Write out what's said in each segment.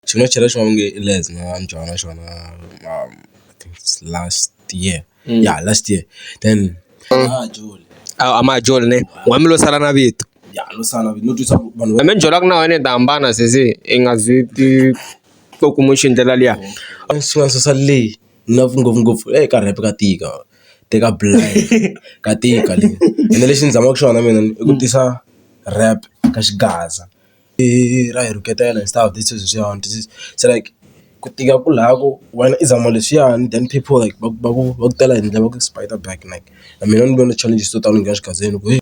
Xi nga chela xin'wana va nge i Les na byala xona I think it's last year ya last year then a Majola ne wa mi lo sala na vito ya no sala no twisa ku vanhu va me ni byelaka na wena ni ta hambana sesi i nga zi ti to kuma xi ndlela liya a ni sungula ni susa leyi ni love ngopfungopfu ey ka rap ka tika teka ka tika le ene lexi ni zamaka xona mina i ku tisa rap ka xigaza. I ra hi rhuketela hi stuff this is leswiyani this is se like ku tika ku laha ku wena i zama leswiyani then people like va va ku va ku tela hi ndlela va ku spite back like na mina ni vone challenges to tala ni nghena xikhadzeni ku heyi .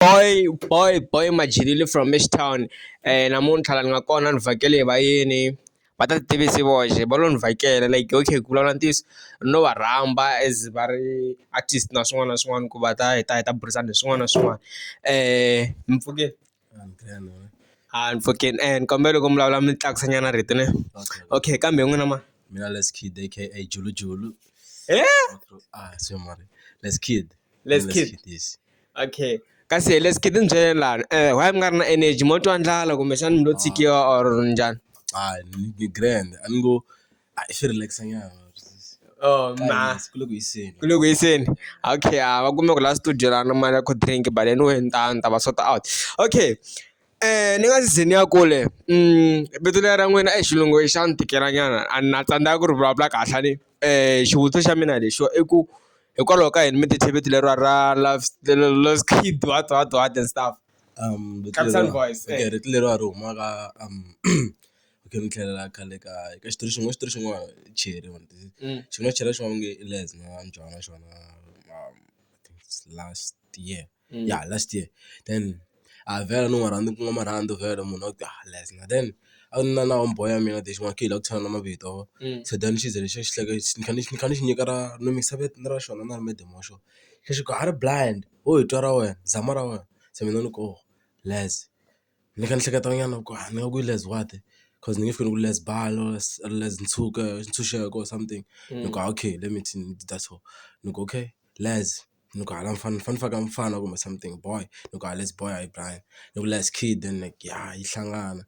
boy boy boy majilile from Ashtown eh namuntlha la ni nga kona ni vhakele hi vayeni va ta tivisi voxe va lo ni vhakela like okay ku vulavula ntiyiso ni lo va rhamba as va ri artist na swin'wana na swin'wana ku va ta hi ta hi ta burisana hi swin'wana na swin'wana eh ni pfukile. I'm fucking and kombela ku mi vulavula mi tlakusa nyana rito ne okay kambe n'wina ma mina let's kid aka julu julu eh ah so mari let's kid let's kid this okay kasi let's kid ni byele lani eh why mi nga ri na energy mo twa ndlala kumbexana mi lo tshikiwa or njhani ah ni grand a ni ngo a hi swi relax nyana oh ma ku le ku hiseni ku le ku hiseni okay a ah, va kume ku la studio la na mali ya cold drink but anyway ni ta ni ta va sort out okay Eh ni nga si ze ni ya kule mm vito leri ra n'wina i xilungu xa ni tikelanyana a na tsandzeka ku ri vulavula kahle ni eh xivutiso xa mina lexo i ku hikwalaho ka yini mi ti theveti leriwa ra love love kid what what what and stuff um Captain voice eh. rito leriwa ri huma ka um Okay ni tlhelela khale ka ka xitori xin'wana xitori xin'wana Cheri mhani xi nga chela xin'wana va nge i Les na Mjaho na xona last year ya last year then a hi vhela no ma rhandza ku nwa marhandzu vhela munhu a ku a Les na then a ni na na homeboy ya mina lexi n'wana khe hi lava ku tshana na mavito se then xi ze xi hleka xi ni kha ni ni kha ni xi nyika ra ni mikisa vito ra xona na ra Madam wa xona se xi ku a ri blind ho hi twa ra wena zama ra wena se mina ni ku Les. Ni kha ni hleketa nyana ku a ni nga ku i Les what coz ni nge fiki ni ku Les bal or Les ntshuke ntshunxeko or something ni ku okay let me ni dya so ni ku okay Les ni ku hala mfana ni fanele ni faka mfana kumbe something boy ni ku Les boy hayi Brian ni ku Les kid then ya yi hlangana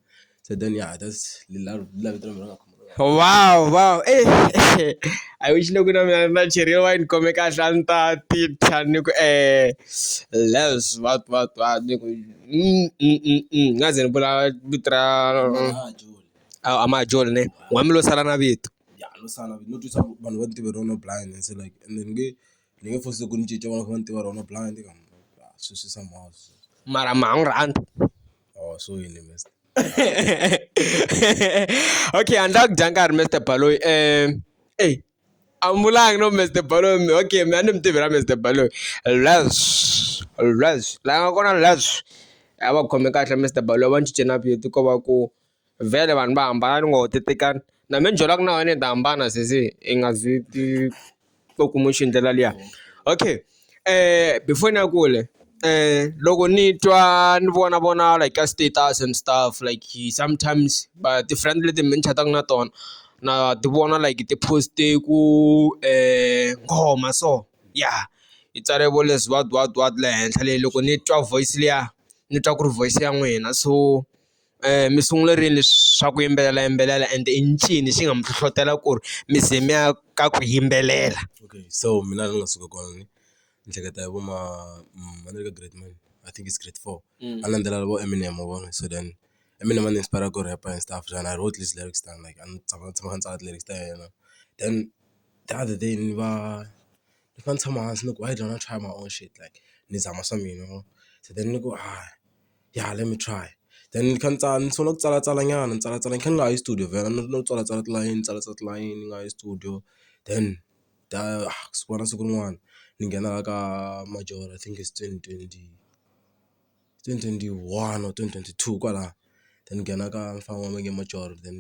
se then ya that's . wow wow i wish loko na mina na cheriwa wayini ni khome kahle a ni ta ti thya ni ku e less what what what ni ku ni nga ze ni vula vito ra a Majola ne n'wina lo sala na vito ya no sala no twisa ku vanhu va ni tiva rona blind se like ende ni nge ni nge force ku ni cinca vanhu va ni tiva rona blind sweswi somehow mara ma ha n'wi rhandza or so yini . okay, and that Dankar Mr. Paloi. Um, hey, I'm like no Mr. Paloi. Okay, man, I'm Tivira Mr. Paloi. Less, less. Like I'm gonna less. I will come back to Mr. Paloi. I want you to know you to go back. Vele vanhu va hambana ni ngo tetekana na me njolaka na wena i ta hambana sesi i nga zwi va ku n'wi xi ndlela liya okay um before ni ya kule um loko ni twa ni vona vona like ka status and stuff like he sometimes va ti-friend leti mi ni chataka na tona na ti vona like ti-post-e ku um nghoma so ya yi tsale vo leswi what what what le henhla le loko ni twa voice liya ni twa ku ri voice ya n'wina so. mi sungule rini leswi swa ku yimbelela yimbelela and i ncini xi nga mi hlohlotela ku ri mi ze mi ya ka ku yimbelela okay so mina ni nga suka kona ni ni hleketa hi vo ma ma le ka grade mani I think is grade four a ni landzelela vo Eminem wa vona so then Eminem a ni inspire ku rap and stuff then I wrote this lyrics down like a ni tshama ni tshama ni tsala ti-lyrics ta yena then the other day ni va ni kha ni tshama hansi ni ku why don't I try my own shit like ni zama swa mina se then ni ku . ya let me try then ni kha ni tsala ni sungula ku tsalatsala nyana ni tsalatsala ni kha ni nga ha yi studio vhela ni no tsalatsala tilayeni ni tsalatsala tilayeni ni nga yi studio then ta siku na siku rin'wana ni nghena la ka majoro I think it's twenty twenty twenty twenty one or twenty twenty two kwalaya then ni nghena ka mufana wa mina majoro then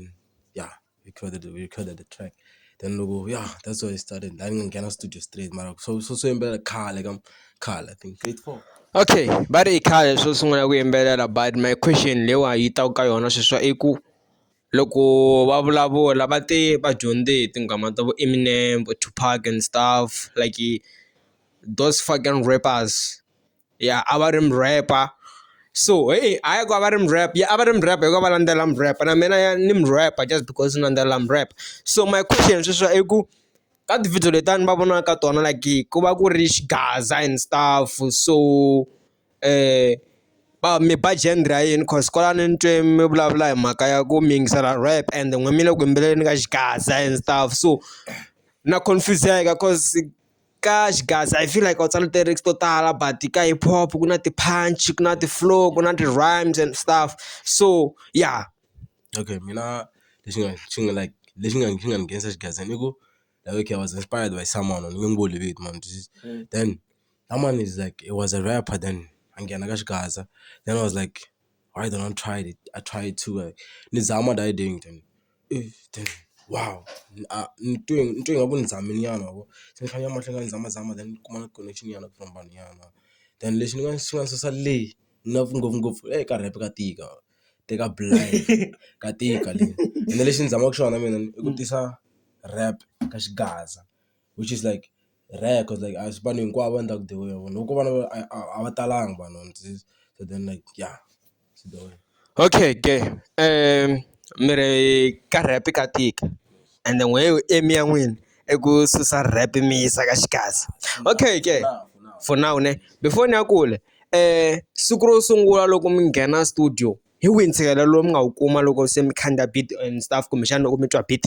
ya. recorded we recorded the track then loko yeah that's where it started la ni nghena studio straight mara so so so yimbelela khale ka khale i think grade 4 okay va ri i khale swo sungula ku yimbelela but my question lewa yi ta ka yona sweswa i ku loko va vulavula va te va dyondze hi tinghoma ta vo Eminem vo Tupac and stuff like those fucking rappers. ya a va ri murhepa so heyi hayi ku a va ri murhepa ya a va ri murhepa hikuva va landzela murhepa na mina ni murhepa just because ni landzela murhepa so my question sweswi i ku ka tivhidiyo leti a ni va vonaka ka tona like ku va ku ri xigaza and stuff so va mi ba genre ra yini cause kwalano ni twe mi vulavula hi mhaka ya ku mi yingisela rap and n'wina mi le ku yimbeleleni ka xigaza and stuff so na confuse-eka cause Ka xigaza I feel like u tsale ti-lyrics to tala but ka hip hop ku na ti-punch ku na ti-flow ku na ti-rhymes and stuff so ya okay mina lexi nga xi nga like lexi nga xi nga ni nghenisa xigazini i ku like okay I was inspired by someone ni nge n'wi boli vito mara then someone is like he was a rapper then a nghena ka xigaza then I was like. why don't I try it I try it too like ni zama that day ngithini ey then wow a ni twe ni twe ingaku ni zamile nyana ma vo se ni fanele ni ya mahlweni ni zama zama then ni kuma na connection nyana from vanhu nyana then lexi ni nga xi nga susa leyi na ngopfungopfu ey ka rap ka tika te ka ka tika le ene lexi ni zamaka xona mina i ku tisa rap ka xigaza. which is like rare cause like a si vanhu hinkwavo a ni ta ku dyiwa yona loko ko va na a a a va talanga vanhu and this so then like ya swi dyiwile. Okay ke mi ri ka rap ka tika and then wehe u aim ya n'wina i ku susa rap mi yisa ka Xikadza okay ke for now ne before ni ya kule siku ro sungula loko mi nghena studio hi wihi ntshikelelo lowu mi nga wu kuma loko se mi khandziya beat and stuff kumbexana loko mi twa beat.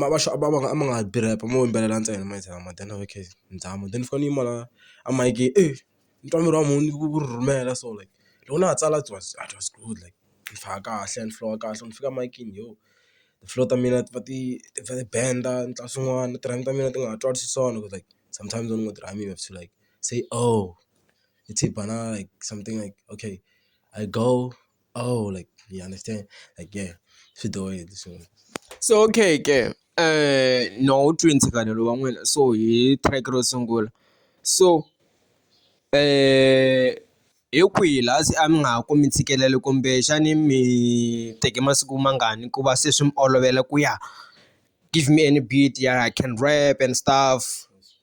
ma va ma va ma nga tirhi app mo yimbelela ntsena ma yingisela ma then okay ni tshama then ni fane ni yima la a mayikeni e ni twa miri wa munhu wu wu rhurhumela so like loko na ha tsala it was it was good like ni faka kahle ni famba kahle loko ni fika mayikeni yo ti-flow ta mina ti va ti ti va ti benda ni tlula swin'wana na ti-rhyme ta mina ti nga ha twali xiswona cause like sometimes when u nga ti-rhyme you have to like say oh it's a banana like something like okay I go. Oh, like you understand? Like yeah, swi dohile so. So okay ke eh no twi ntshikanelo wa n'wina so hi track ro sungula so eh hi kwihi laha se a mi nga ha kumi ntshikelelo kumbe xani mi teke masiku mangani ku va se swi mi olovela ku ya give me any beat ya I can rap and stuff.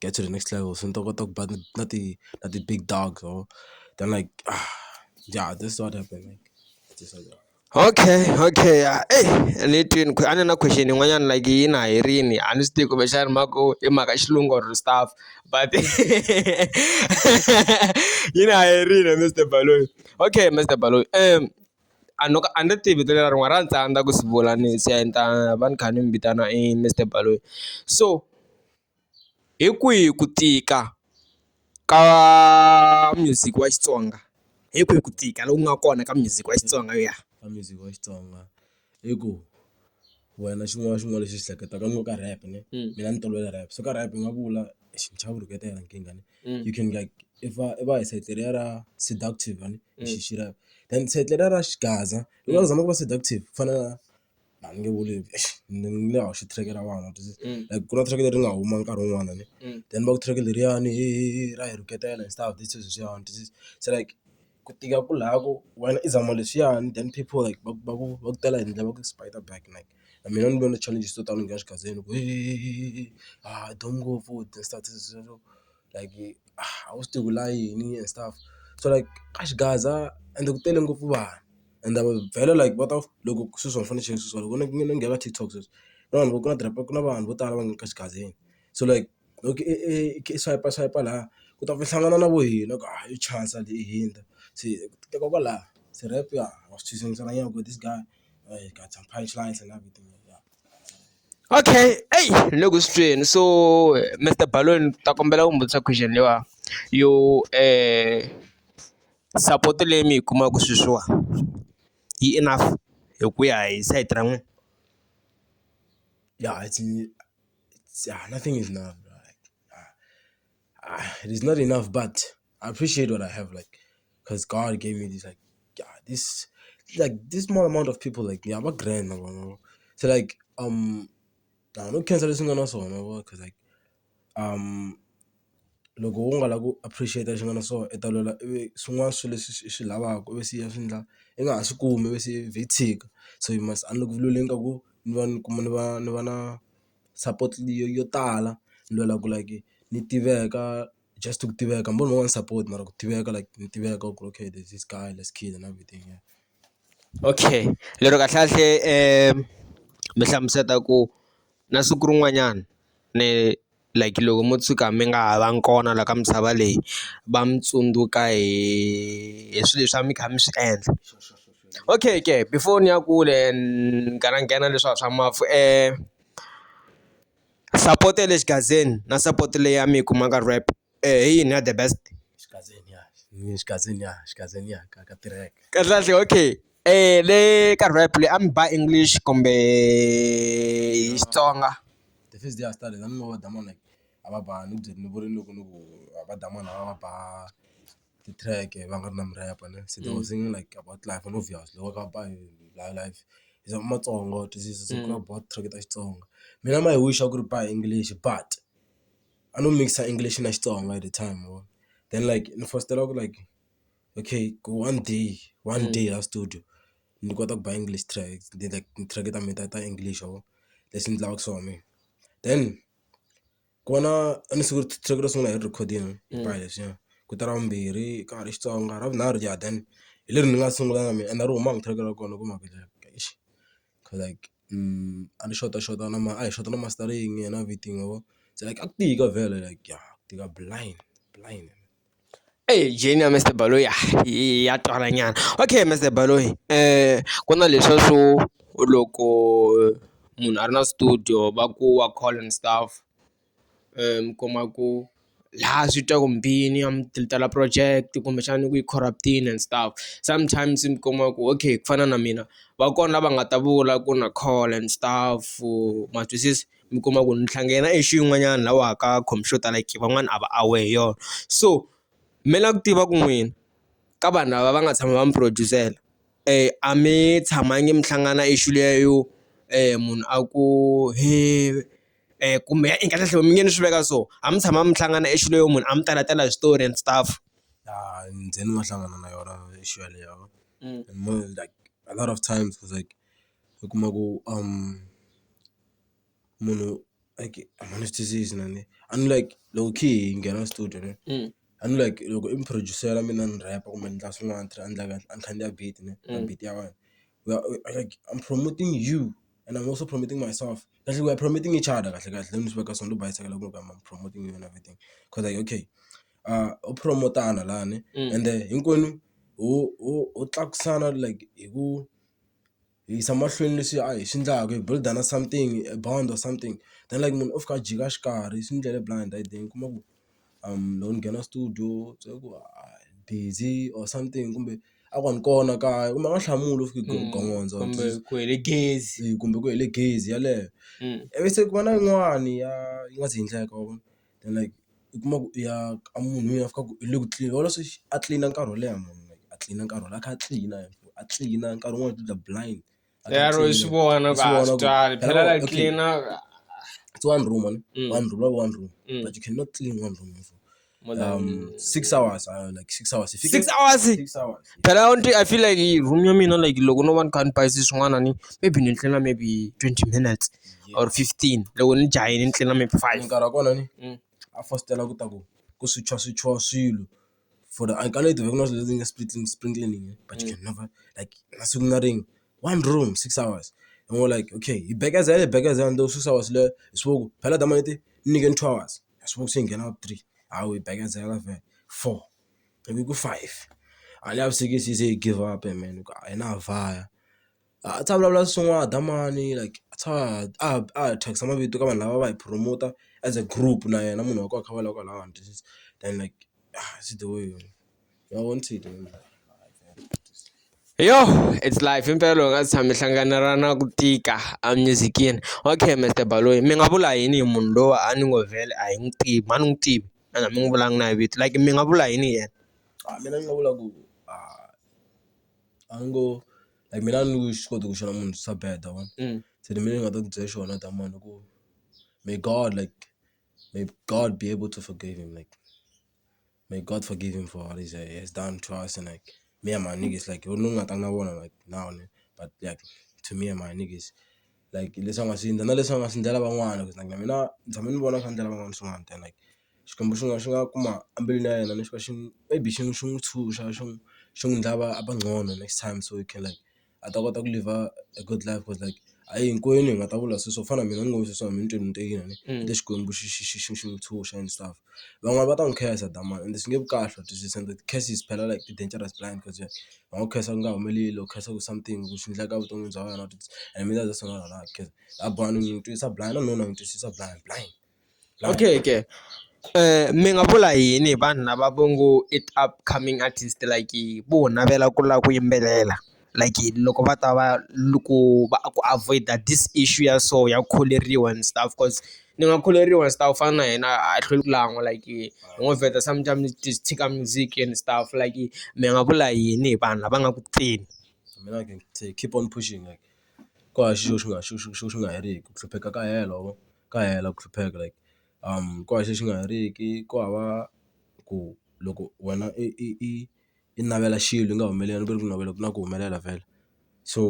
get to the next level se ni ta kota ku ba na na ti na ti big dogs or then like ya this is what happened like this is Okay, okay. Ah, eh, ni twini a ni na question yin'wanyana like yi na herini a ni swi tivi kumbexana mhaka ku i mhaka xilungu or stuff but yi na herini Mr Baloyi okay Mr Baloyi um a no a ni tivi vito leri rin'wana ra ni tsandza ku swi vula ni se a ni ta va ni kha ni mi vitana i Mr Baloyi so Hi kwihi ku tika ka music wa Xitsonga hi kwihi ku tika loku nga kona ka music wa Xitsonga ya ka music wa Xitsonga i ku wena xin'wana na xin'wana lexi xi hleketaka ni ngo ka rap ne mina ni tolovele rap so ka rap ni nga vula xichava rito ra nkingha ni you can like i va i va hi sayiti leriya ra seductive a ni xi xi rap then sayiti leriya ra xigaza ni nga zama ku va seductive ku fana na. a ni nge vuli ni nge hoxi track ra vona like ku na track leri nga huma nkarhi wun'wana ni then va ku track leriyani hehe ra hi rhuketela and stuff leswi leswiyani this is se like ku tika ku laya ku wena i zama leswiyani then people like va va ku va ku tela hi ndlela va ku spite back like na mina ni vone challenges to tano ni nghena xigazini ku hehehe hayi duma ngopfu . like ah a wu swi tivi ku lava yini and stuff so like a xigaza ende ku tele ngopfu vanhu ende a va byela like va ta loko sweswi a ni fanekele ni cheka swilo swa loko ni ni ni nghena ka TikTok sweswi na vanhu vo tala ku na vanhu vo tala va nga ka xigazini so like loko i i i kha i swayipa swayipa lahaya u ta ku hlangana na vo hina ku hayi yo chasa leyi i hundza se ku teka kwalaya se rhep ya ha swi twisisa nyana ku this guy got some punch lines and everything ya. Okay eyi ni le ku swi tweni so Mister Baloyi ni ta kombela ku mi vutisa question leyiwani yo support leyi mi yi kumaka sweswiwa yi enough hi ku ya hi side ra n'wina ya nothing is enough . ah, it is not enough, but I appreciate what I have, like, because God gave me this, like, yeah, this, like, this small amount of people, like, yeah, I'm a grand, you know? so like, um, nah, no cancel this one also, you know, because like, um, loko u nga la ku appreciate xi nga na so i ta lwela ivi swin'wana swilo leswi swi swi lavaka ivi siya swi ndla i nga ha swi kumi ivi se vhitshika so you must unlock vululeni ka ku ni va ni kuma ni va ni va na support yo yo tala ni lwela ku like ni tiveka just ku tiveka hambi u ri na one support mara ku tiveka like ni tiveka ku ri okay there's this guy lets kill and everything yeah. Okay lero kahlekahle mi hlamuseta ku na siku rin'wanyana ni like loko mo tshuka mi nga ha va ngi kona la ka misava leyi va mi tsundzuka hi hi swilo leswi a mi kha mi swi endla. Okay ke before ni ya kule ni nghena nghena leswa swa mafu support ya le xigazini na support leyi ya mi yi kumaka rap hi yini ya the best xigazini ya xigazini ya xigazini ya ka ka tirheka kahle kahle okay le ka rap leyi a mi ba English kumbe hi Xitsonga the first day I started a ni ngo va dama like a va ba ni byele ni vurile loko ni ku va dama lava va ba. ti-track va nga ri na murhepa ne se they were singing like about life and obviously loko va ba hi life hi za matsongo ti-track ta Xitsonga. Mina my wish a ku ri ba hi English but a no mikisa English na Xitsonga at the time ma vo then like ni fositela ku like okay ku one day one day a studio ni kota ku ba English track ni ti-track ta mina ta ta English ma vo leswi ni lavaka swona mina then. Ku va na a ni siku siku ro sungula hi ri rhekhodini hinkwayo leswiya ku ta ra vumbirhi ka ha ri Xitsonga ra vunharhu ja then hi leri ni nga sungula na mina ende ri huma hi track ra kona ku mavhele eish coz like a ni xotaxota na mara a hi xota na mastering na everything ma vo se like a ku tika vhele like ya ku tika blind blind. Eyi jeni ya Mister Baloyi ya twala nyana okay Mister Baloyi ku na leswa swo loko munhu a ri na studio va ku wa call and stuff mi kuma ku laha swi twa ku mbini a mi tala project kumbexana ku yi corrupt-ini and stuff sometimes mi kuma ku okay ku fana na mina va kona lava nga ta vula ku na call and stuff ma twisisa. mi kuma ku ntlhantlha yena i xi yin'wanyana laha wa ha ka khompyuta like van'wana a va aware hi yona so me la ku tiva ku n'wina ka vanhu lava va nga tshama va mi produce-ela a mi tshamangi mi hlangana issue liya yo munhu a ku he kumbe i kahle kahle mi nge ni swi veka so a mi tshama mi hlangana issue leyo munhu a mi tala tala hi switori and stuff ya ni ze ni nga hlangana na yona issue yaleyo like a lot of times like u kuma ku . munhu like a ma ni swi twisisi na ni a ni like loko khe hi nghena studio ne a ni like loko i muphurojusere mina ni rheyila kumbe ni endla swin'wana ni tlhela ni endla kahle a ni khandziya beat ne na beat ya wena we are like I'm promoting you and I'm also promoting myself kahlekahle we are promoting each other kahlekahle ni swi veka so ni lo bayisekela ku loko I'm promoting you and everything cause like okay u promote-ana lani ende hinkwenu ho ho ho tlakusana like hi ku. hi yisa mahlweni leswi a hi swi endlaka hi build-a na something a bond or something then like munhu u fika a jika xikarhi swi ni endlele blind i think u kuma ku loko ni nghena studio se ku busy or something kumbe a ku a ni kona kaya kumbe a nga hlamuli u fika u gongondza kumbe ku hele gezi kumbe ku hele gezi yeleyo ivi se ku va na yin'wani ya yi nga si endleka wa vona. then like u kuma ku i ya ka munhu loyi a fikaka u le ku tlileni wona swi a tlilina nkarhi wo leha munhu like a tlilina nkarhi wo leha a kha a tlilina a tlilina nkarhi wun'wani u dlula blind a kha a yaro hi swi tlilina. vona Wa ku swi a vona swi ku- twali phela Hello, la okay. tlilina It's one room man Mm. one room lava one room Mm. but you cannot clean one room for more than um six hours uh, like six hours If you six can- hours six hours phela u nti i feel like room ya mina like loko no va ni kha ni bayise swin'wana ni maybe ni tlhela maybe 20 minutes or fifteen loko ni jahe ni tlhela mi five nkarhi wa kona ni a fositela ku ta ku ku swicha swichiwa swilo for the I can't even not using a split sprinkling but you can never like na siku na rin'we one room six hours and we were like okay hi bekezele hi bekezela until six hours leyo hi swi vona ku phela dama ni te ni nyikeni two hours hi swi vona se hi nghena ka three ha we bekezela vhele four ivi ku five a ni lavisisi hi ze hi give up mehe ni ku a hi na ha vaya. a tshama a vulavula swin'wana da mani like a tshama a a thyakisa mavito ka vanhu lava va hi promoter as a group na yena munhu wa kona a kha a vulavula kwalano and this is then like swi the way ma vona swi the way. Yoh it's life himpela u nga si tshama i hlangana ra na ku tika a music-ini okay Mister Baloyi mi nga vula yini hi munhu loyi a ni ngo vhele a hi n'wi tivi a ni n'wi tivi ene a mi n'wi vulanga na hi vito like mi nga vula yini hi yena. A mina ni nga vula ku a a ni ngo. like mina a ni swi koti ku xana munhu swa bad wa vona se ni mina ni nga ta ku byela xona ta mani ku may God like may God be able to forgive him like may God forgive him for what he has done to us and like me and my niggas like loko ni nga tanga na vona like now ne but like to me and my niggas like leswi a nga swi endla na leswi a nga swi endlela van'wana ku na mina ni tshame ni vona swi endlela van'wana swin'wana than like. Xikwembu xi nga xi nga kuma embilwini ya yena lexi va xi maybe xi xi n'wi tshunxa xi n'wi xi n'wi endla a va a va nqono next time so he can like a ta kota ku live-a a good life cause like a hi hinkwenu hi nga ta vula se swo fana na mina ni ngo se ni tweni ni te yini se Xikwembu xi xi xi xi xi n'wi tshunxa and stuff van'wani va ta n'wi khensa that mara ende swi nge vi kahle u ta twisisa and ti-curses phela like ti-dangerous blind cause va nga ku khensa ku nga humeleli or khensa ku something ku swi endleka evuton'wini bya wena u ta and mina that's what I don't like cause a blind ni n'wi twisa blind na nuna ni n'wi twisisa blind blind. Okay ke mi nga vula yini hi vanhu lava va ngo i ti upcoming artist like vo navela ku lava ku yimbelela like loko va ta va loko va ku avoid this issue ya so ya ku kholeriwa and stuff coz ni nga kholeriwa and stuff ku fana na yena a hi hlweli ku lan'wa like hi ngo vheta sometimes ni ti tshika music and stuff like mi nga vula yini hi vanhu lava nga ku teni mina keep on pushing like ku hava xilo xi nga xi xi xi xi xi nga heriki ku hlupheka ka hela wena. ka hela ku hlupheka like ku hava lexi nga heriki ku hava ku loko wena i i i i navela xilo i nga humeleli ni ku ri ku navela ku na ku humelela vhele so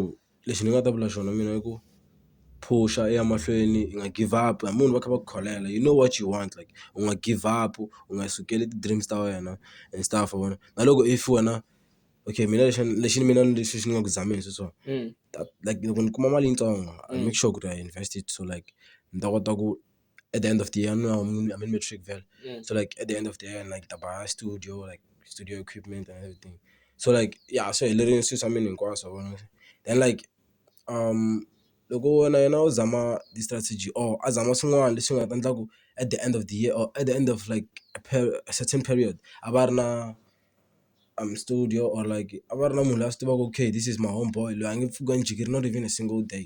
lexi ni nga ta vula xona mina i ku phusha i ya mahlweni i nga give up hambi munhu va kha va ku kholela you know what you want like u nga give up u nga sukeli ti-dreams ta wena and stuff wa vona na loko if wena. okay mina lexi lexi mina ni lexi ni nga ku zameni swi swona like loko ni kuma mali yitsongo I will make sure ku ri I invest it so like ni ta kota ku at the end of the year ni va ni matric vhele so like at the end of the year like ni ta ba studio like studio equipment and everything so like ya swi helerile swilo swa mina hinkwaswo then like loko na yena u zama ti-strategy or a zama swin'wana leswi nga ta endla ku at the end of the year or at the end of like a certain period a va a ri na. I'm studio or like a va ri na munhu la swi tivaka okay this is my home boy loyi a nge pfuki a ni jikeli not even a single day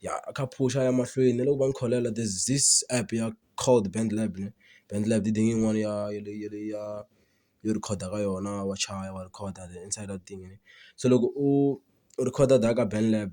ya a kha a phusha a ya mahlweni ni le ku va ni kholelwa there is this app ya called BandLab ne BandLab i thing yin'wani ya ya le ya le ya yo rhekhoda ka yona wa chaya wa rhekhoda the inside of thing se loko u u rhekhoda la ka BandLab.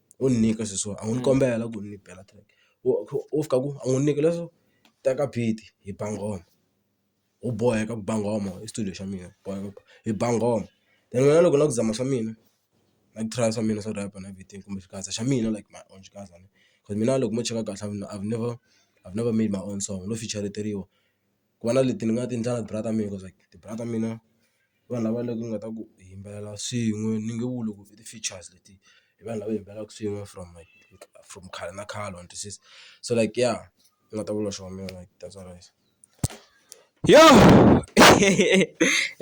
u ni nyika swilo swo a ngo ni kombela ku ni bela track u kha u fika ku a ngo ni nyika leswo teka beat hi ba nghoma u boheka ku ba nghoma i studio xa mina boheka hi ba nghoma then wena loko u lava ku zama swa mina na ku try swa mina swo rhaba na beat-ini kumbe xikandza xa mina like my own xikandza mina loko mo cheka kahle I've never I've never made my own song no feature-iteriwa. ku va na leti ni nga ti endla na ti-brother ta mina cause like ti-brother ta mina i vanhu lava ni nga ta ku hi yimbelela swin'we ni nge vuli ku i ti-features leti i vanhu lava hi yimbelelaka swin'we from like from khale na khale wa ni twisisa so like ya ni nga ta vula swo that's all right yoh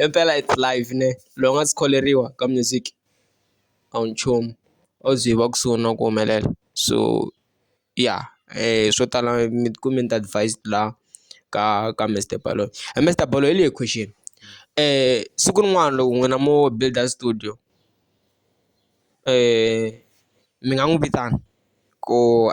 impela it's life ne loko u nga si kholeriwa ka music a wu nchumu a wu ze u va kusuhi na ku humelela so. ya swo tala mi ti kumbe ni ta advised la ka ka Mister Baloyi he Mister Baloyi leyi question siku rin'wana loko n'wina mo build-a studio mi nga n'wi vitana ku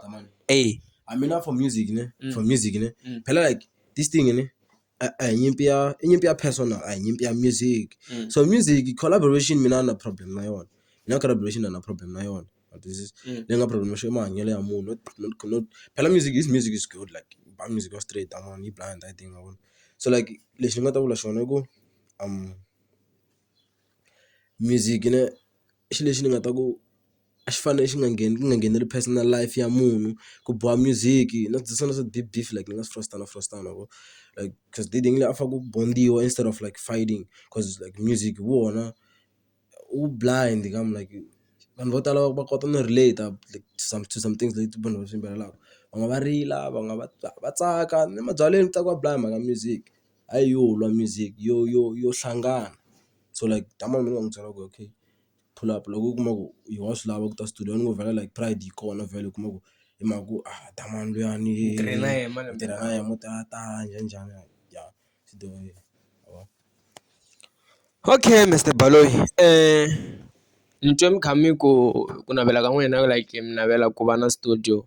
eya I mean for music ne for music ne phela like this thing ne. a hi nyimpi ya i nyimpi ya personal a hi nyimpi ya music so music collaboration mina a ni na problem na yona mina collaboration a ni na problem na yona wa twisisa leyi nga problem i mahanyelo ya munhu phela music is music is good like u ba music ya straight a ni yi ba hi ndlela leyi nga vona so like lexi ni nga ta vula xona i ku music ne i xilo lexi ni nga ta ku. a xi fanele xi nga ngheni ku nga ngheneleli personal life ya munhu ku biwa music na swi na swo deep deep like ni nga swi fositela fositela loko like coz le a fanele ku bond-iwa instead of like fighting coz like music hi wona wu blind ka munhu like vanhu vo tala va kota no relate-a like to some to some things leti vanhu va swi yimbelelaka va nga va rila va nga va va tsaka ni mabyalweni ku tsakiwa blind hi mhaka music hayi yo lwa music yo yo yo hlangana so like ni nga n'wi byela ku okay. pull up loko u kuma ku yo wa swi lava ku ta studio ni ngo vhela like pride yi kona vhele u kuma ku hi mhaka ku a hi ta mani luyani hi tirha na yehe malembe tirha na yehe mo tala tala njhani njhani ya swi dyohile ma vo okay Mister Baloyi ni twe mi kha mi ku ku navela ka n'wina like mi navela ku va na studio.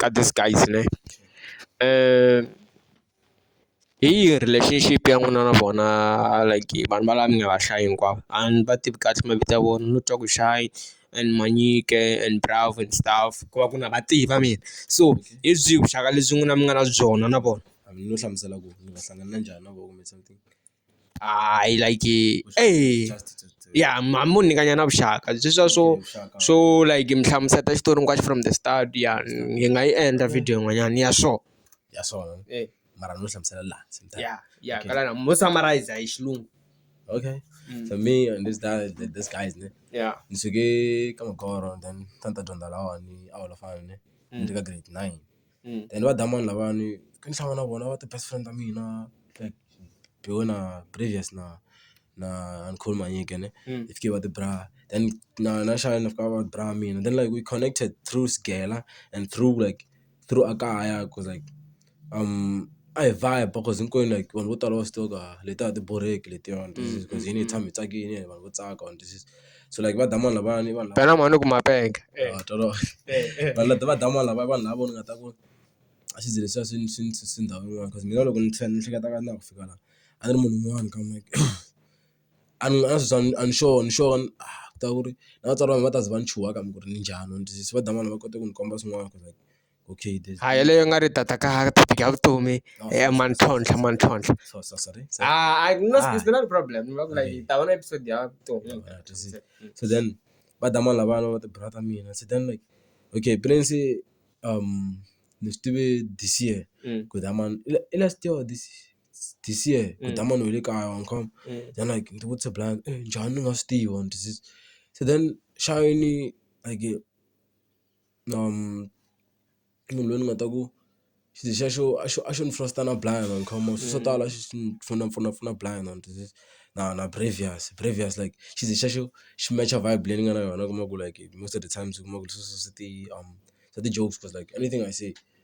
ka this guys ne hi yihi relationship ya n'wina na vona like vanhu va la mi nga va hlayi hinkwavo a ni va tivi kahle mavito ya vona no twa ku shy and manyike and braaf and staff ku va ku na va tiva mina so hi byihi vuxaka lebyi n'wina mi nga na byona na vona a mi no hlamusela ku mi nga hlangana njhani na vona kumbe something. Ah, I like it. Hey. ya ma mo nyikanya na vuxaka byi swa swo swo like mi hlamuseta xitori hinkwaxo from the start ya hi nga yi endla video yin'wanyana ya swo ya swona mara no hlamusela laha ya ya ka lana mo summarize hi xilungu okay so me and this guy this guys ne ya ni suke ka magoro then a ni ta ni ta dyondza lahawani a holofana ne ni ri ka grade nine. and va damani lavawani a ni tshama na vona va ti best friend ta mina like Biwe na Previous na na Khuluma Manyike ne hi fike va ti bra then na na Shine na fika va bra mina then like we connected through Sgela and through like through a kaya ku like a hi vibe cause hinkwenu like vanhu vo tala va swi tiva ku letiya a ti borheki letiwani hi tshama hi tsakile vanhu vo tsaka . so like va damani lavawani i vanhu lava mhani ku ma penga wa tolola vanhu lava va damani lava i vanhu lava ni nga ta ku a xi ze xi va xi xi xi xi ndhawu yin'wana cause mina loko ni tlhela ni hleketa ka na ku fika laha a ni ri munhu un'wana ka mehe a ni a swi a ni sure ni sure ku ta ku ri na vatswari va mina va ta ze va ni chuha kambe ku ri ni njhani va ni twisisa va damani va kota ku ni komba swin'wana ku ri. okay there's ha yeleyo nga ri tata ka tata ka vutomi eh mantlhontlha mantlhontlha so so sorry so, ah i no ah. it's not a problem you look like okay. ta vona episode ya vutomi so then va da mani lavana va ti brother mina so then like okay prince um ni swi tivi this year mm. ku da mani i last year this this year ku da mm. mani we le kaya wa nkhoma mm. then like ni ti vutise blind eh, njhani ni nga swi tiva so then shayini like munhu loyi ni nga ta ku xi xa xo a xo a xo ni fosita na Blanyana ni kha ma swi swo tala swi swi ni pfuna pfuna pfuna Blanyana na na Previous Previous like xi ze xa xo xi mecha vibe leyi ni nga na yona u kuma ku like most of the times u kuma ku ri sweswo swi ti swa ti-jokes cause like anything I say.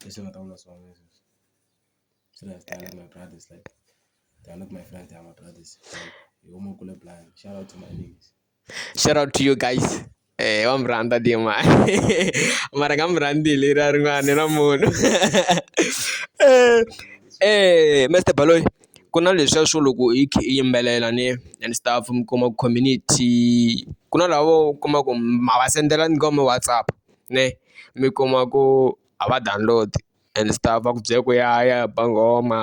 That's what I'm not saying. So that's they are not my brothers. Like they are not my friends. They are my brothers. Like, you almost cool blind. Shout out to my niggas. Shout out to you guys. Eh, wa murhandza dima mara nga murhandzi hi leriya rin'wana na munhu eh, eh mr baloyi ku na leswiya swo loko hi khe i yimbelela ni and stuff mi kuma community ku na lavo u kuma ku ma va sendela ni ka mi whatsapp ne mi kuma ku a va download and stuff va ku byela ku ya ya ba nghoma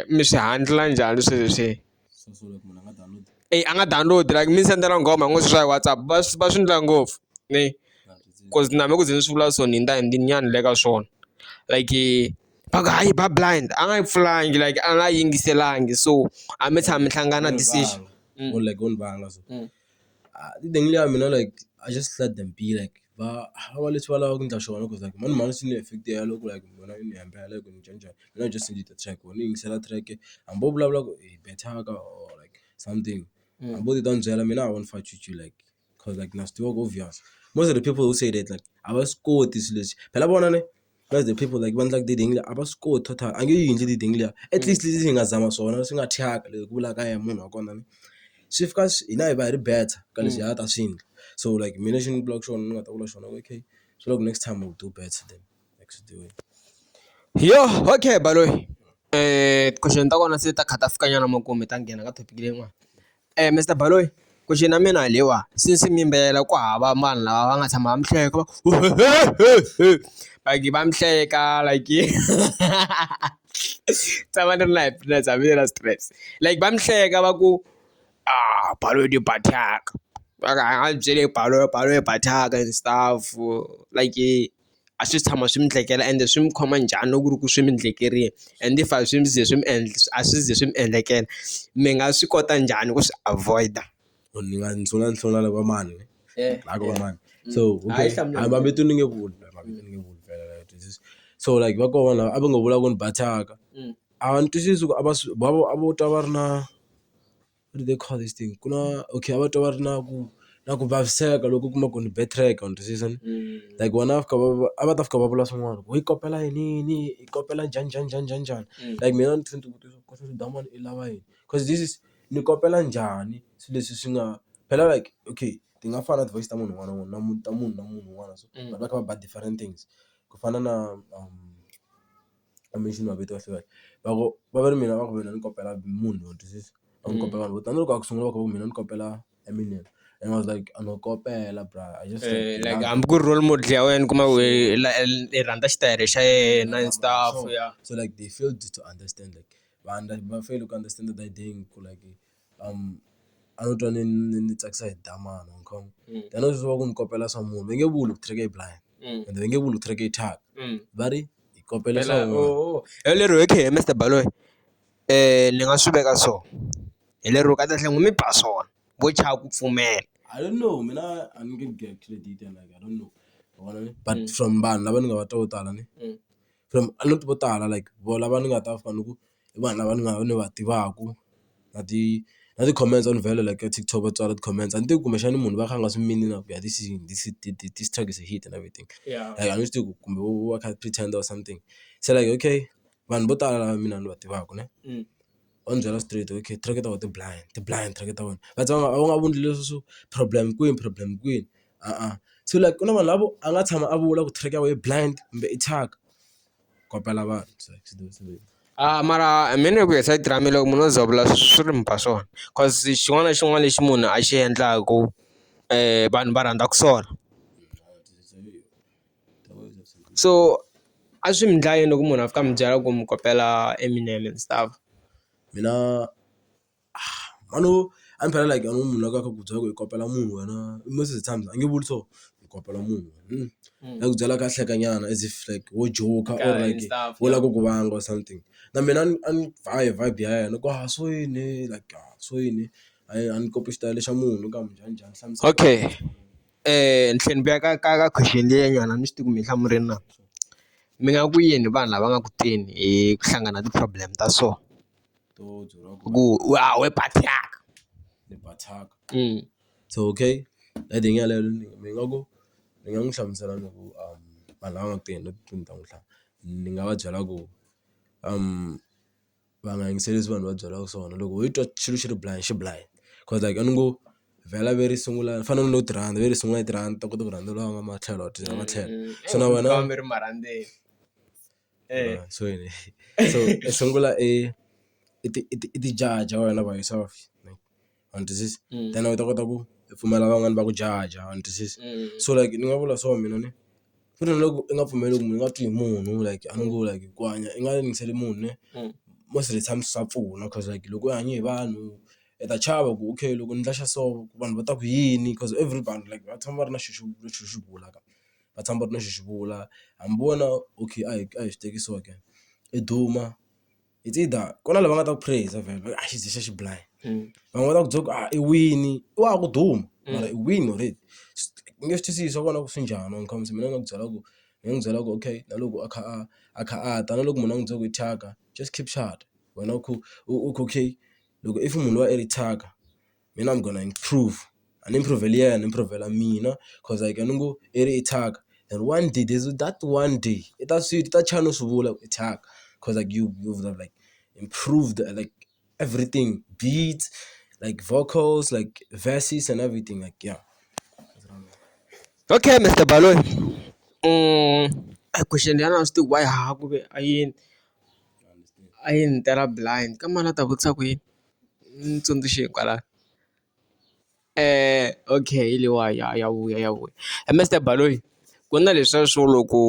mi swi handle njhani swilo leswi a nga download like mi ni sendela nghoma hi ngo swa hi WhatsApp va swi va swi endla ngopfu ne ku ri na mina ku ze ni swi vula so ni hundza hi nyana le ka swona like va ku hayi ba blind a nga yi pfulanga like a nga yingiselangi so a mi tshama mi hlangana . Ah ni dingley ya mina like I just let them be like va va va leswi va lavaka ku endla swona coz like mani mhani swi ni affect-e ya loko like munghana i ni hembela ku ni njhani njhani mina I just need the track or ni yingisela track hambi wo vulavula ku i bethaka or like something hambi wo titwa a ni byela mina I won't fight with you like coz like na swi tiva ku obvious most of the people who say that like a va swi koti swilo leswi phela vona ne. That's the people like va endlaka ti-ring a va swi koti total a nge yi endli ti-ring liya at least leswi hi nga zama swona swi nga thyaka leswi ku vulaka yena munhu wa kona ni swi fika swi hina hi va hi ri better ka leswi a ta swi endla so like mina lexi ni vulaka xona ni nga ta vula xona okay swa loko next time we'll do better than yoh okay baloyi ti-question ta kona se ta kha ta fika nyana makumu hi ta nghena ka topic leyin'wani. Mister Baloyi question ya mina hi leyiwani since mi yimbelela ku hava vanhu lava va nga tshama va mi hleka va ku hehehe va nge va mi hleka like yi tshama ni ri na happiness hambi ni ri na stress like va mi hleka va ku a Baloyi de ba thyaka va ku a hi nga mi byeli Baloyi Baloyi ba thyaka and stuff like. a swi si tshama swi mi endlekela ende swi mi khoma njhani loko ku ri ku swi mi endlekerile and if a swi mi ze swi mi endla a swi zi swi mi endlekela mi nga swi kota njhani ku swi avoid-a. Ni nga ni sungula ni hlamula lava va mani hayi ku va mani so okay a mavito ni nge vuli mavito ni nge vuli phela a wu twisisi so like va kona lava a va ngo vula ku ni ba thyaka a va ni twisisi ku a va swi va vo a vo twa va ri na. what do they call this thing ku na okay a va twa va ri na ku na ku vaviseka loko u kuma ku ni betrayed u twisisa ni like vona a va fika va va a va ta fika va vula swin'wana ku yi kopela yiniyini yi kopela njhani njhani njhani njhani njhani like mina a ni tlhela ni ti vutisa ku xana swidan'wana i lava yini coz this is ni kopela njhani swilo leswi swi nga phela like okay ti nga fani na ti-voice ta munhu un'wana na un'wana na munhu na munhu na munhu un'wana so vanhu va kha va ba different things ku fana na . I mean xi ni mavito ya hluke va ku va ve ri mina va ku mina ni kopela munhu wa twisisa a ni kopela vanhu vo tala na loko a ku sungula va ku mina ni kopela Eminem and I was like a no kopela bra I just like hambi ku ri role model ya wena u kuma ku i rhandza xitayele xa yena and stuff ya so like they failed to understand like va va feyile ku understand-a the idea ku like. a no twa ni ni ni tsakisa hi damani ma vo ni kha ni swi tiva ku ni kopela swa munhu va nge vuli ku three K blind ende va nge vuli ku three K thyaka va ri hi kopela swa munhu hi lero okay Mister Baloyi ni nga swi veka so hi lero kahlekahle n'wi mi ba swona vo chava ku pfumela I don't know mina a ni nge get credit and I don't know ma vona ne but from vanhu lava ni nga va twa vo tala ne from a ni ri vo tala like vo lava ni nga ta fana ni ku. i vanhu lava ni nga ni va tivaka na ti na ti-comments on value like ka TikTok va tsala ti-comments a ni tivi kumbexana i munhu loyi a kha a nga swi mini na ku ya this is this is this truck is a hit and everything like a ni swi tivi ku kumbe u va a kha a pretend or something se like okay vanhu vo tala lava mina ni va tivaka ne va ni byela straight okay tirheke ta wena ti blind ti blind tirheke ta wena va tshama va nga voni leswi swo problem kwini problem kwini se like ku na vanhu lavo a nga tshama a vula ku track ya wena yi blind kumbe i thyaka. kopela va a mara mina hi ku ya side ra mina loko munhu o ze a vula swi ri mi ba swona cause xin'wana na xin'wana lexi munhu a xi endlaku vanhu va rhandza ku sola so a swi mi ndla yini loko munhu a fika a mi byela ku mi kopela Eminem and stuff mina. Mhani wo a ni phela like munhu la ku a kha a ku byela ku hi kopela munhu wena i most of the times a nge vuli so hi kopela munhu a ku byela a kha a hleka nyana as if like wo joke or like wo lava ku ku vanga or something na mehe a ni a ni ba hi vibe ya yena ku haha so yini like a so yini a hi a ni copy xitayele xa munhu ni ku a munjhani njhani hlamusela. Okay tlhela ni vuya ka ka ka question liya nyana a ni swi tivi ku mi yi hlamula na mi nga ku yini vanhu lava nga ku teni hi ku hlangana na ti-problem ta so. to dzula ku ku wa we bathaka ni bathaka so okay hi ndlela yaleyo ni ni nga ku ni nga n'wi hlamusela ni ku vanhu lava nga ku tirheni ni ta n'wi tlhela ni nga va byela ku va nga yingiseli leswi vanhu va byelaka swona loko ho twa xilo xi ri blind xi blind cause like a ni ngo vhela ve ri sungula ni fanele ni lo ti rhandza ve ri sungula yi ti rhandza ni ta kota ku rhandza loyi a nga matlhelo a tlhelo so na wena . Eh. Ah, so yini so i sungula i i ti i ti i ti judge wena by yourself like u ni twisisa Mm. then u ta kota ku i pfumela van'wani va ku judge u ni twisisa Mm. so like ni nga vula so mina ni ku ri na loko i nga pfumeli ku munhu i nga twi hi munhu like a ni ngo like ku hanya i nga yingiseli munhu ne Mm. most of the times swa pfuna cause like loko u hanye hi vanhu i ta chava ku okay loko ni ndla xa so vanhu va ta ku yini cause everybody like va tshama va ri na xo xo xo xo bula ka. va tshama va ri na xo xi vula hambi wena okay a hi a hi swi teki so ke i duma it's either ku na lava nga ta ku praiser vhele va ku a xi ze xi ya xi belayi van'wani va ta ku byela ku a i wini i wa ha ku duma mara i wini already u nge swi twisisi swa kona ku swi njhani wena comes mina ni nga ku byela ku ni nga n'wi byela ku okay na loko a kha a a kha a ta na loko munhu a n'wi byela ku i thyaka just keep wena u kha u okay loko if munhu loyi a ri thyaka. mina I'm gonna improve a ni improve-li yena ni improve-la mina cause like a ni ngo i ri i thyaka and one day there's that one day i ta swi i ta chava no swi vula ku i thyaka cause like you you would have like improved like everything beat like vocals like verses and everything like ya. Okay Mister Baloyi question liyani a ni swi tivi ku va ya ha ku ve a yini a yi ni tela blind ka mani a ta vutisa ku yini. ni tsundzuxeni kwala okay hi leyiwa ya ya vuya ya vuya Mister Baloyi ku na leswiya swo loko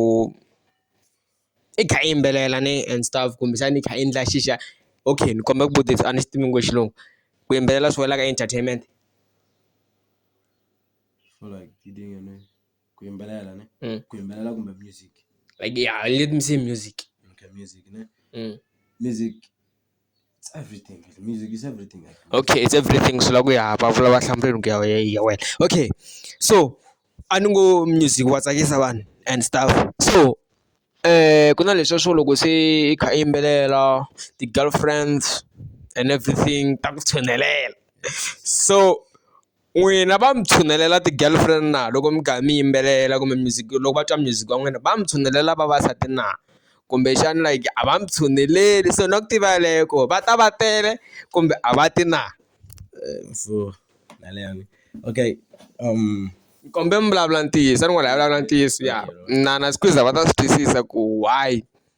i kha i yimbelela ne and stuff kumbexana i kha i endla xixa okay ni kombela ku vutisa a ni xi tivi nghozi xilungu ku yimbelela swi wela ka entertainment like ya let me say music music. It's everything music is everything. Okay, it's everything swi la ku ya vulavula va hlamuleni ku ya ya wena okay so a ni ngo music wa tsakisa vanhu and stuff so um ku na leswiya swo loko se i kha i yimbelela ti-girlfriends and everything ta ku tshinelela so N'wina va mi tshunelela ti-girlfriend na loko mi karhi mi yimbelela kumbe music loko va twa music wa n'wina va mi tshunelela vavasati na kumbexana like a va mi tshuneleli so na ku tiva yeleyo ku va ta va tele kumbe a va ti na so yaleyo okay ni kombela mi vulavula ntiyiso a ni ngo a hi vulavula ntiyiso ya na na squeezer va ta swi twisisa ku why.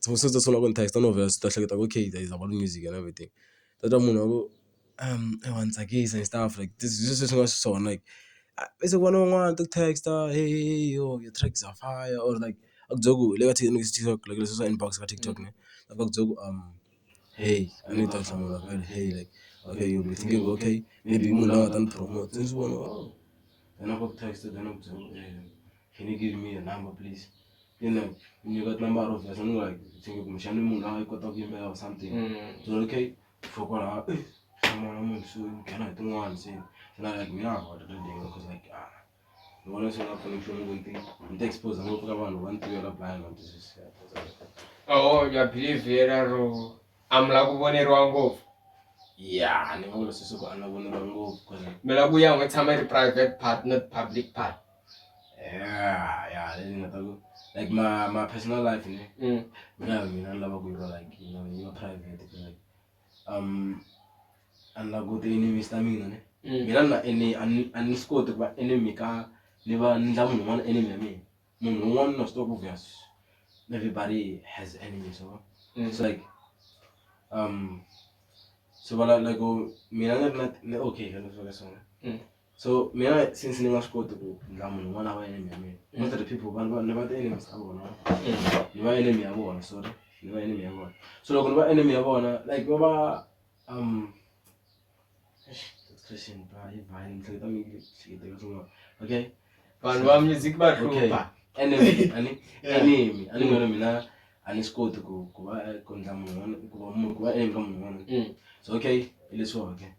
se u ta sungula ku ni text-a no vhela u ta hleketa ku okay there is about music and everything u ta twa munhu a ku eyi wa ni tsakisa and stuff like this hi sweswi hi nga xiswona like i se ku vona van'wana va text-a heyi yo your track is on fire or like a ku byela ku hi le ka TikTok like leswiya swa inbox ka TikTok ne va ku byela ku . hey a ni ta hlamula ku ri hey like okay you will be thinking okay maybe i munhu la nga ta ni promote se ni swi vona oh then a va ku text then a ku byela ku ri can you give me your number please then like ni nyika tinambara obvious ni like thinking kumbexani i munhu la nga yi kotaka ku yimbelela or something so okay for kwalaho eh hlamula munhu so nghena hi tin'wani se na like mina a ni ri ready cause like ah ni vona swi nga pfuni nchumu ku nti ni ta expose ngopfu ka vanhu va ni tiyo la baya nga twisisi oho ya believe yena ro a mi la ku voneriwa ngopfu ya ni nga vula sweswo ku a ni la voneriwa ngopfu ku mi la ku ya n'wi tshama yi ri private part not public part ya ya leyi ni nga ta ku like ma ma personal life ne mina mina ni lava ku yi va like yi va private ku like um a ni lava ku ti enemies ta mina ne Mm. mina ni na ene a ni- a ni swi koti ku va enemy ka ni va ni endla munhu un'wana enemy ya mina munhu un'wana na swi tiva ku obvious everybody has enemies so Mm. it's like um so vala like oh, mina ni ri na ni okay ka leswi ka swona Mm. so mina since ni nga swi koti ku ndla munhu un'wana a va enemy ya mina most of the people vanhu vanhu ni va ti-enemies ta vona ni va enemy ya vona sorry ni va enemy ya vona so loko ni va enemy ya vona like va va um expression ba yi ba ni hleketa mi hleketa swin'wana okay vanhu va music va hlupha enemy ani enemy ani ngona mina a ni swi koti ku ku va ku ndla munhu un'wana ku va munhu ku va enemy ka munhu un'wana mm. so okay hi leswiwa okay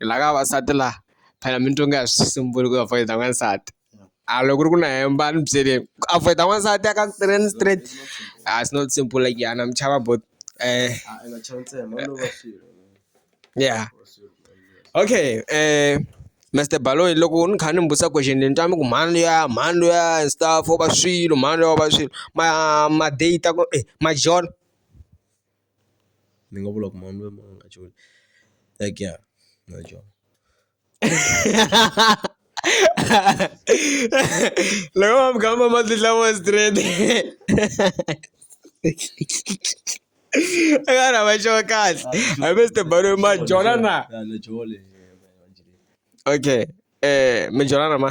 hi la ka vavasati la phela mi ni twa nga ha swi sunguli ku avoid n'wansati a loko ku ri ku na hemba a ni byeli ku avoid n'wansati a ka tirheni straight a it's not simple like ya na mi chava bo ya okay Mister Baloyi loko ni kha ni mi vutisa question ni twa mi ku mhani luya mhani luya and stuff wo va swilo mhani luya wo va swilo ma ma date ku e ma jola. ni nga vula ku munhu loyi a nga cula like ya na dyoho loko va mi gamu mati lawa straight a nga ri hava xona kahle hambi swi tiberiwe ma jola na okay mi jola na ma.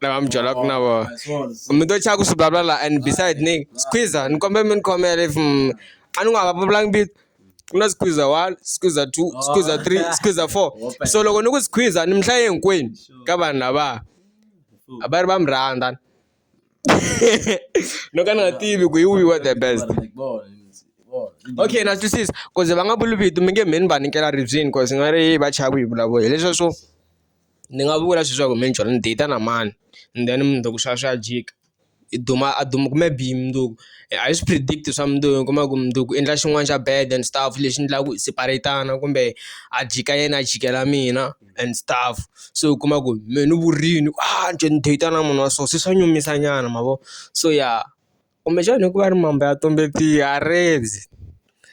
na va mi byela ku na vona mi to chava ku swi vulavula la and beside ni squeeza ni kombela mi ni khomela if mm, a ni nga va vulavulanga vito ku na squeeza one squeeza two squeeza three squeeza four so loko ni ku squeeza ni mi hlaye hinkwenu ka vanhu lava a va ri va mi rhandza no ka ni nga tivi ku hi wihi wa the best okay na twisisa koze va nga vuli vito mi nge mheni va nikela ribyini koze nga ri va chava ku yi vulavula hileswa swo ni nga vula leswaku minjhwa ni date na mani and then mundzuku swa swa jika i duma a duma kume bihi mundzuku a hi swi predict swa mundzuku u kuma ku mundzuku u endla xin'wana xa bad and stuff lexi endlaku hi separate-tana kumbe a jika yena a jikela mina and stuff se u kuma ku mehe ni vurini a njhe ni date na munhu wa so se swa nyumisa nyana ma vo so ya. kumbexana hikuva ri mambe ya tumbetiwa a rivzi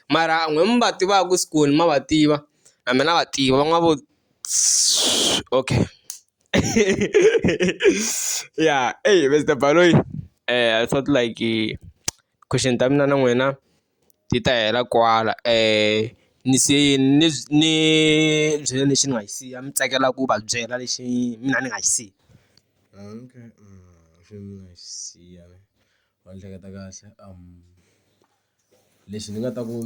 mara n'wina mi va tivaka ku skuni ma va tiva na mina na va tiva va nga vo okay ya Mister Baloyi I thought like question ta mina na n'wina. ti ta hela kwala ni se ni ni byela lexi ni nga xi siya mi tsakela ku va byela lexi mina ni nga xi siya lexi ni nga xi siya va ni hleketa kahle lexi ni nga ta ku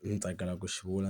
ni tsakela ku xi vula.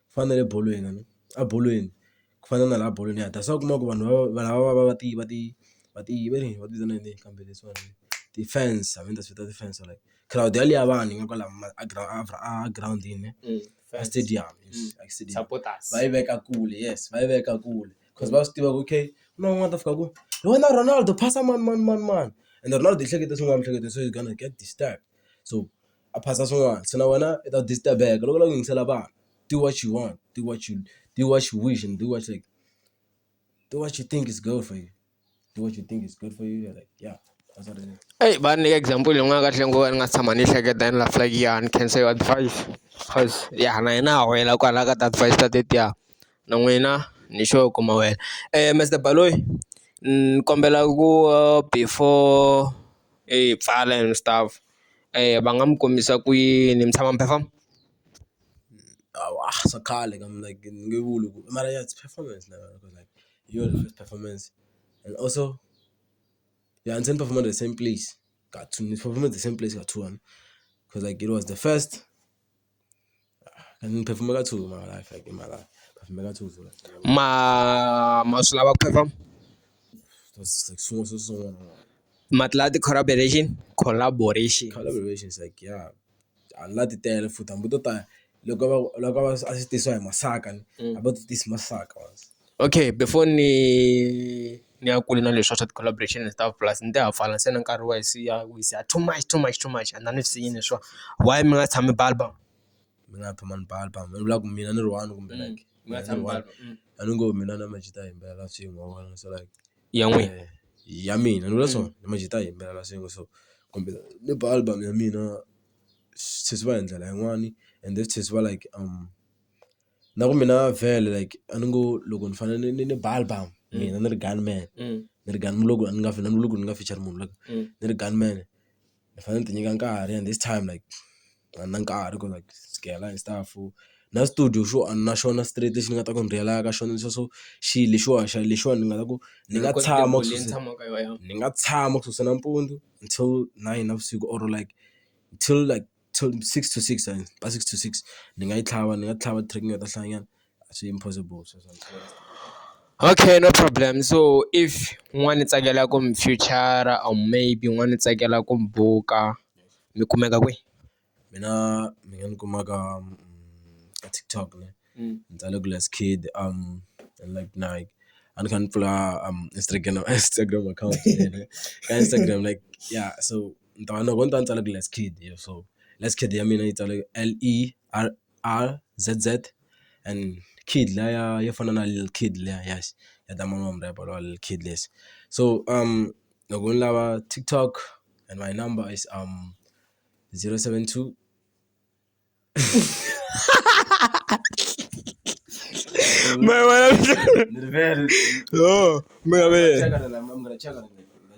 ku fana na le bolweni a ni a bolweni ku fana na laha bolweni ya ta se u kuma ku vanhu va lava va va va ti va ti va ti va va ti vitana yini kambe leswiwani ti-fans I mean ta swi vita ti-fans or like crowd ya liya vanhu yi nga kwala a girawundini a stadium va yi veka kule yes va yi veka kule coz va swi tiva ku okay ku na un'wana a ta fika ku hi wena Ronaldo phasa manimanimanimani ende Ronaldo yi hleketa swin'wana miehleketo so is gonna get distracted so. a phasa swin'wana se na wena i ta disturb-eka loko u lava ku yingisela vanhu do what you want do what you do what you wish and do what you like do what you think is good for you do what you think is good for you you're like ya phasa rinene. Eyi va ni nyika example leyi nga kahle ngopfu a ni nga si tshama ni yi hleketa ni lava like ya ni khensa yo advise cause ya na yena a wela kwalaya ka ti-advise ta tetiya na n'wina ni sure ku ma wela. Mister Baloyi ni kombela ku before hi pfala and stuff. va nga mi kombisa ku yini mi tshama mi perform? Hawa swa khale ka mina like ni nge vuli ku mara ya it's performance na yona cause like hi yona first performance and also ya ni se ni perform-a the same place ka two ni perform-e the same place ka two cause like it was the first. Ni phefumula ka two mara hayi fuck i mara phefumula ka two vula ma ma swi lava ku phefoma mati lama ti collaboration collaboration collaboration is like ya a ni la ti tele futhi hambi to ta loko va loko va swi tisiwa hi masaka hambi a ti tisi masaka. Okay before ni ni ya kule na leswa swa ti-collaboration and stuff plus ni te ha pfala se na nkarhi wa se ya wisa too much too much too much a ni na ni swi siyi leswa why mi nga tshami ba album mi nga phama ni ba album ni vula ku mina ni ri one kumbe mm, like mi nga tshami ba album mm. a ni ngo mina na majita yimbelela swin'we wona so like ya n'we eh, ya mina ni vula so mm. ni majita yimbelela swin'we so kumbe ni ba album ya mina sesi va hi ndlela yin'wani and then sesi va like um na ku mina vhele like a ni ngo loko ni fanele ni ni ba album mina ni ri gun man ni ri gun loko ni nga ni loko ni nga feature munhu like ni ri gun man ni fanele ni ti nyika nkarhi and this time like a ni na nkarhi ku like sukela hi stuff na studio xo a ni na xona straight lexi ni nga ta ku ni rheyila ka xona leswiya swo xilo lexiwa xa lexiwani ni nga ta ku ni nga tshama ni nga tshama ku susa nampundzu until nine navusiku or like till like. till six to six ka six to six ni nga yi tlhava ni nga tlhava track ni nga ta hlayanyana a swi impossible sweswo okay no problem so if n'wana ni tsakela ku mi future or maybe n'wana ni tsakela ku mi buka mi kumeka kwihi mina mi nga ni kuma ka ka TikTok ni ni tsale ku last kid like na a ni kha ni pfula Instagram Instagram account ka Instagram like yeah so. ni ta va loko ni ta va ni tsale ku Lezkit so Lezkit ya mina yi tsale L_E_R_R_Z_Z and kid liya ya yo fana na Lil kid liya ya ya ta manana wa mu-rapper lowa Lil kid lexi so loko ni lava TikTok and my number is zero seven two ni rivele.